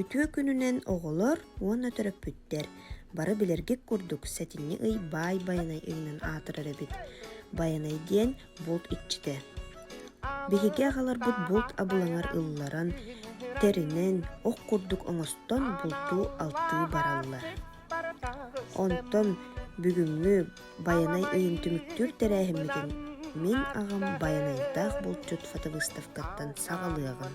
Үтүө күнүнэн оҕолор уонна төрөппүттэр бары билэргит курдук сэтинньи ый баай Байанай ыйынан аатырар эбит. Байанай диэн булт иччитэ. Биһиги аҕаларбыт булт абылаҥар ылларан, тэринэн, ох курдук оҥостон булту алтыы бараллар. Онтон бүгүҥҥү Байанай ыйын түмүктүүр тэрээһиммитин мин аҕам Байанайдаах булчут Фатовыставкаттан саҕалыаҕым.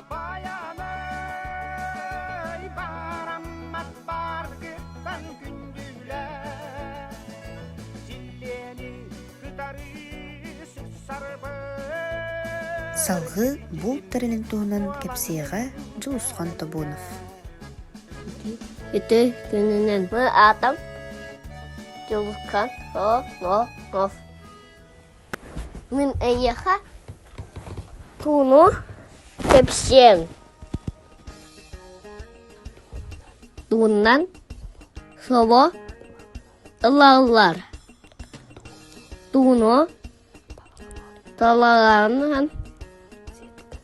Салгыы буул тэрилин туһунан кэпсиэҕэ Дьулусхан Тобонов. Ити күнүнэн бу атам Дьулусхан Тобонов Мин эйиэхэ пууну кэпсиэм туунан собо ылаллар тууну талаанан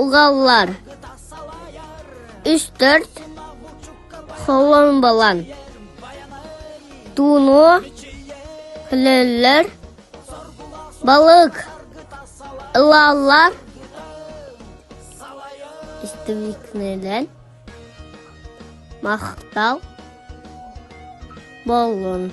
Угаллар үс-төрт холуобалан тууну өлөллөр, балык ылаллар, истребительлэр махтал боллун.